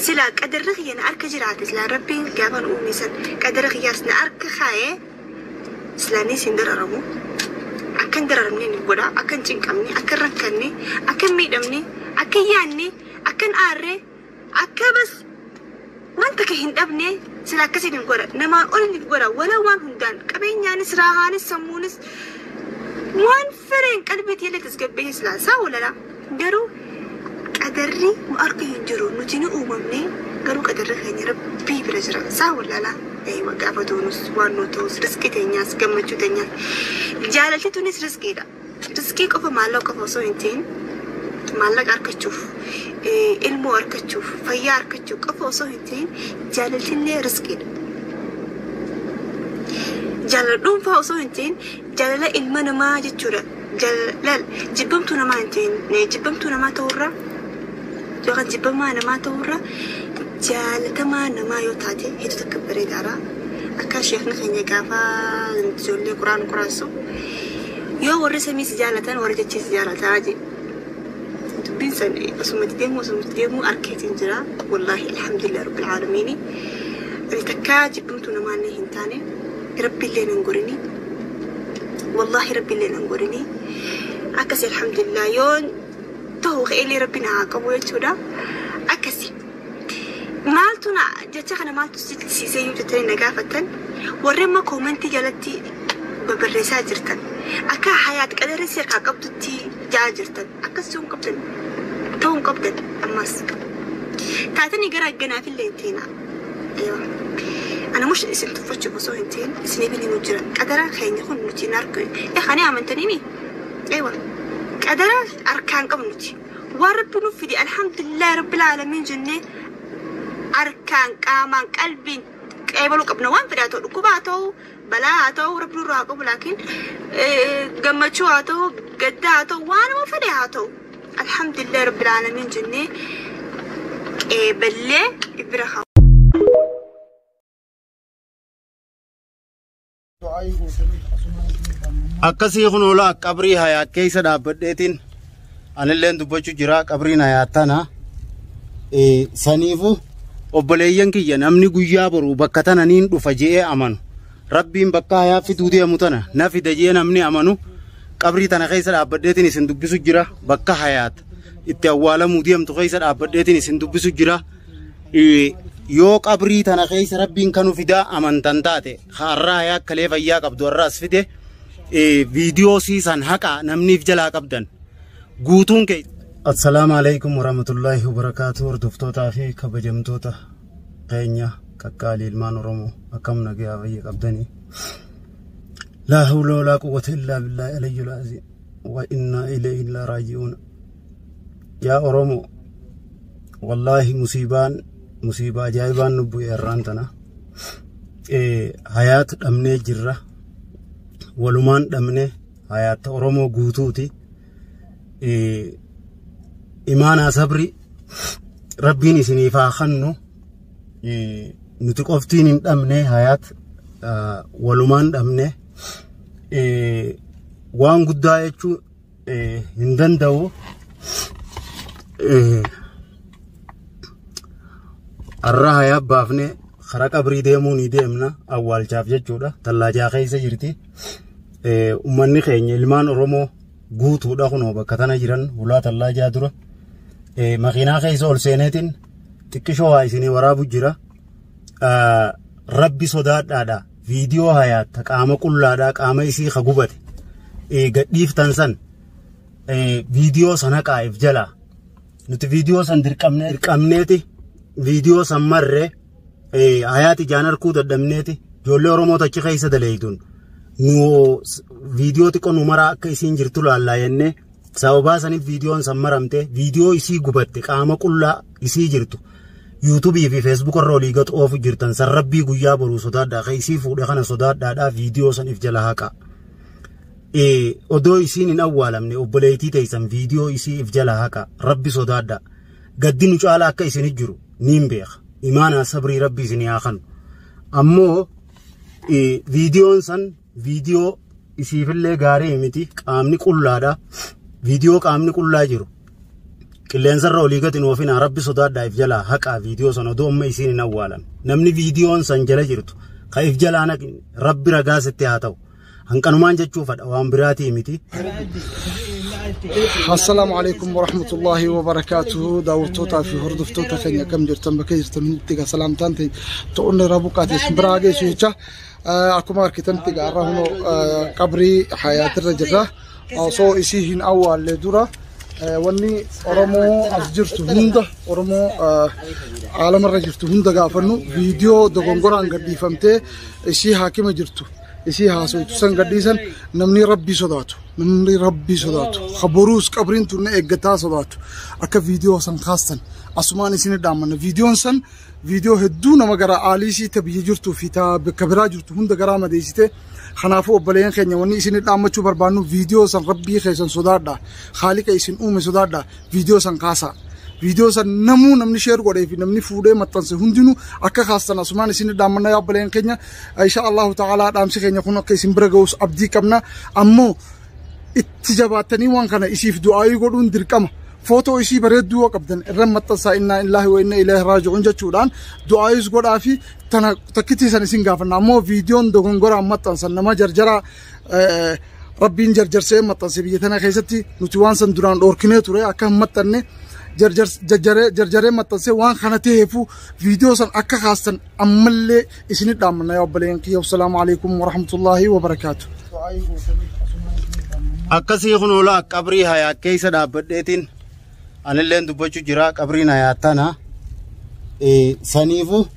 Silaa qadarri kiyya na harka jiraate silaa rabbiin gaafa nu uume san qadara kiyyaas na harka kaa'e silaa ni isin dararamu. Akka hin dararamne ni godha. Akka hin cinqamne, akka hin rakkanne, akka hin miidhamne, akka hin yaanne, akka hin aarre, akka bas waan takka hin dhabne sila akkasiin hin godha. Namaan ol ni godha. Wala waan hundaan qabeenyaanis, raahaanis, sammuunis waan Fireen qalbii teellee tasgabbeessee silaa isaa walala. Garuu qadarri nu harka hin jiru nuti ni uumamne garuu qadarri keenya rabbii bira jira isaa walala. Daa'ima gaafa doonus waan nu ta'us riskii teenyaas gammachuu teenyaas jaalalti tunis riskiidha. Riskii qofa maallaqa qofa osoo hin ta'in maallaqa argachuuf eh, ilmoo argachuuf fayyaa argachuuf qofa osoo hin ta'in jaalaltillee riskiidha. Jaalala dhuunfaa osoo hin ta'in Jaalala ilma namaa jechuudha. Jaalal jibbamtuu namaa hin ta'in eh, jibbamtuu namaa ta'urra yookaan jibbamaa namaa ta'urra jaalatamaa namaa yoo taate hedduu takka bareedaadha. Akka sheekni keenya gaafa ijoollee quraan quraansu yoo warri samii si jaalatan warri jechii si jaalataa jee. Dubbiin san eh, osuma itti deemuu osuma itti deemuu arkeetiin jira. Wallaahi alhamdulillah rabbil aalamiini. Ani takkaa jibbamtuu namaa illee hin taane. Rabbilleen hin godhini wallahi rabbilleen hin godhini akkasi alhamdulillah yoon ta'u ka'eellee rabbi na haa qabu jechuudha akkasi maaltu na jecha kana maaltu sichisiisee yoo jettanii na gaafattan warri amma koomentii jalatti babarreessaa jirtan akka hayaat qadarri si harkaa qabdutti ja'a jirtan akkas ta'uu hin qabdan ta'uu hin qabdan ammas taatanii gara agganaafillee hin teenaa. Eewa. Ana mush isin tuffachuuf osoo hin ta'in isiniif hin himu jira. Qadara keenya kun nuti hin argu. Eh ani amantanii mi? Eewa. Qadara harkaan qabnu nuti. Waan rabbi nuuf fide alhamdulillah rabbil alamin jennee harkaan qaamaan qalbiin qeebaluu qabna waan fedhaa ta'u dhukkuba haa ta'u balaa haa ta'u rabbi nurraa haa qabu laakiin eh, gammachuu haa ta'u gaddaa haa ta'u waanuma fedhe haa ta'u Alhamdulillah Rabbil Aalamiin jennee qeeballee bira haa. akkasii kun hoolaa qabrii hayaat keessa dhaabbadheetiin anilleen dubbachuu jira qabriin hayaat tana Eh, saniifu obboleeyyan kiyya namni guyyaa boru bakka tana niin dhufa je'ee amanu Rabbiin bakka hayaaffi duudee amu tana na fida jee namni amanu qabrii tana keessa dhaabbadheetiin isin dubbisu jira bakka hayaat itti awwaalamuu deemtu keessa dhaabbadheetiin isin dubbisu jira yoo qabrii tana keessa rabbiin kanu fidaa amantan taate har'aa hayaa kalee fayyaa qabdu har'aas fide viidiyoo siisan haqaa namniif jalaa qabdan guutuun kee. Assalaamu alaikum warahmatullaahi wabarakaatu hordoftoota fi kabajamtoota keenya qaqqaalii ilmaan Oromoo akkam nagayaa fayya qabdanii. Laa hawla walaa quwwata illaa billaahi aliyyul aziim. Wa innaa ilayhi illaa raaji'uun. Yaa Oromoo wallaahi musiibaan musiibaa ajaa'ibaan nu bu'e har'aan tana. Hayaat dhabnee jirra. Walumaan dhabnee hayaatta Oromoo guutuuti. imaanaa sabri rabbiin isiniif haa kennu nuti qoftiin hin dhabne hayaat walumaan dhabne waan guddaa jechuu hin danda'u har'a hayaa baafne karaa qabrii deemuu ni deemna awwaalchaaf jechuudha tallaajaa keessa jirti ummanni keenya ilmaan Oromoo guutuudha kunoo bakka tana jiran hulaa tallaa jaa dura makiinaa keessa ol seeneetiin xiqqishoo waa isinii waraabu jira. Rabbi sodaadhaadha viidiyoo hayaatta qaama qullaadhaa qaama isii ka gubate gadhiiftan san viidiyoo sana qaa'eef jalaa nuti viidiyoo san dirqamneeti viidiyoo san marree. hayaati jaan harkuu dadhabneeti ijoollee Oromoo tachi keessa daleeyduun nu viidiyoo xiqqoo nu maraa akka isiin jirtu laallaa jennee sababaa saniif viidiyoon san maramte viidiyoo isii gubatte qaama qullaa isii jirtu yuutubii fi feesbuuk irra olii gad oofu jirtan san rabbii guyyaa boruu sodaadhaa ka isii fuudhe kana sodaadhaadhaa viidiyoo san if jala haqaa. odoo isiin hin awwaalamne obboleeytii teeysan viidiyoo isii if jala haqa rabbi sodaadha gaddi nu caalaa akka isin hin jiru niin beeka imaanaa sabrii rabbi isin yaa kanu ammoo viidiyoon san viidiyoo isiifillee gaarii miti qaamni qullaadha viidiyoo qaamni qullaa jiru qilleensarra olii gadi hin oofinaa rabbi sodaadhaa if jalaa haqaa viidiyoo san odoo amma isiin hin awwaalan namni viidiyoon san jala jirtu ka if jalaa naqni rabbi ragaa sitti haa ta'u Hanqanumaan jechuufadha waan biraatii miti. Assalaamu alaikum warahmatullahi wabarakatuhu daawwattootaa fi hordoftoota keenya akkam jirtan bakka jirtan hundutti egaa salaamtaan ta'e ta'uun irraa buqqaate isin biraa geessu jecha akkuma argitanitti egaa har'a hunoo qabrii hayaatirra jirra osoo isii hin awwaalle dura wanni Oromoo as jirtu hunda Oromoo aalamarra jirtu hunda gaafannu viidiyoo dogongoraan gadhiifamtee isii haakima jirtu isii haasoytu san gadhiisan namni rabbii sodaatu namni rabbii sodaatu ka boruus qabriin tunna eeggataa sodaatu akka viidiyoo san kaastan asumaan isin dhaammanna viidiyoon san viidiyoo hedduu nama gara aaliisii ta biyya jirtuu fi ta bakka biraa jirtu hunda garaa madeessite kanaafuu obboleeyyan keenya wanni isin dhaammachuu barbaannu viidiyoo san rabbii keessan sodaadha haaliqa isin uume sodaadha Viidiyoo san kaasaa. Viidiyoo san namuu namni sheer godhee fi namni fuudhee maxxanse hundinuu akka kaastan asumaan isin dhaammanna yaa obboleen keenya. Insha Allahu ta'ala dhaamsi keenya kun akka isin bira ga'us abdii qabna. Ammoo itti jabaattanii waan kana isiif du'aayii godhuun dirqama. Footoo isii bareedduu yoo qabdan irra maxxansaa innaa illaahi wa inna ilaahi raaji'uun jechuudhaan du'aayis godhaa fi tana takkittii san isin gaafanna. Ammoo viidiyoon dogongoraan maxxansan nama jarjaraa Rabbiin jarjarsee maxxanse biyya tana keessatti nuti waan san duraan dhoorkinee ture akka hin maxxanne jarjaree maxxanse waan kana ta'eefu viidiyoo san akka kaastan ammallee isinit dhaammanna yaa obboleeyyan kiyya wassalaamu alaikum warahmatullaahi wabarakaatu. Akkasii kun oolaa qabrii hayaa keessa dhaabbadheetiin anilleen dubbachuu jira qabrii na yaattana saniifu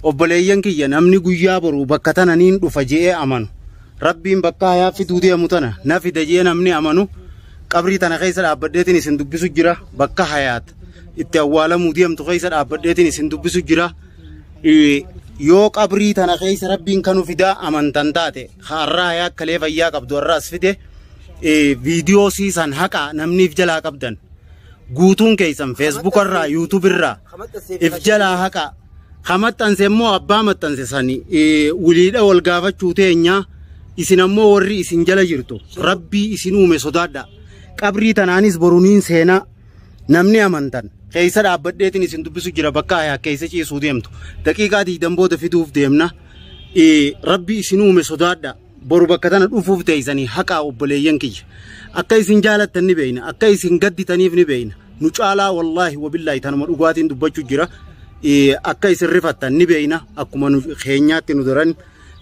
obboleeyyan kiyya namni guyyaa boru bakka tana niin dhufa je'ee amanu rabbiin bakka hayaa fiduu deemu tana na fida je'ee namni amanu qabrii tana keessa dhaabbadheetiin isin dubbisu jira bakka hayaat itti awwaalamuu deemtu keessa dhaabbadheetiin isin dubbisu jira yoo qabrii tana keessa rabbiin kanu fidaa amantan taate har'aa hayaa akkalee fayyaa qabdu har'aas fide viidiyoo siisan haqa namniif jalaa qabdan guutuun keessan feesbuuka irraa yuutuubi irraa if jalaa haqa ka maxxanse immoo abbaa maxxanse sani wiliidha wal gaafachuu teenyaa isin ammoo warri isin jala jirtu rabbii isin uume sodaadha qabrii tanaanis boruniin seenaa namni amantan keessa dhaabbadheetiin isin dubbisu jira bakka ayaa keessa ciisuu deemtu daqiiqaa digdam booda fiduuf deemna rabbii isin uume sodaadha boru bakka tana dhufuuf teeysanii haqaa obboleeyyan kiyya akka isin jaalattan ni beeyna akka isin gadditaniif ni beeyna nu caalaa wallaahi wabillaahi tanuma dhugaatiin dubbachuu jira Eh, akka isin rifattan ni beeyna akkuma nu keenyaatti nu daran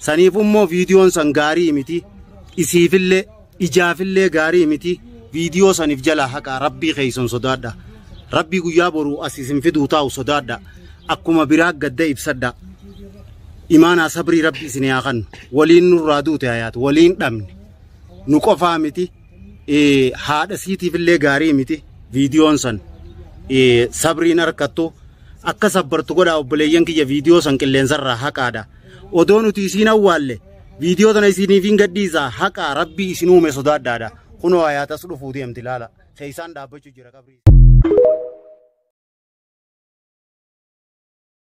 saniif immoo viidiyoon san gaarii miti isiifillee ijaafillee gaarii miti viidiyoo saniif jalaa haqaa rabbii keeysan sodaadha rabbii guyyaa boruu as isin fiduu taa'u sodaadha akkuma biraa gadda ibsadha imaanaa sabrii rabbi isin yaa kannu waliin nurraa duute hayaat waliin dhabne nu qofaa miti eh, haadha siitiif illee gaarii miti viidiyoon san eh, sabriin harkattu akka sabbartu godhaa obboleeyyan kiyya viidiyoo san qilleensarraa haqaadha odoo nuti isiin awwaalle viidiyoo tana isiniif hin gadhiisa haqaa rabbii isin uume sodaadhaadha kunoo hayaatas dhufuu deemti laala keessaan dhaabbachuu jira qabrii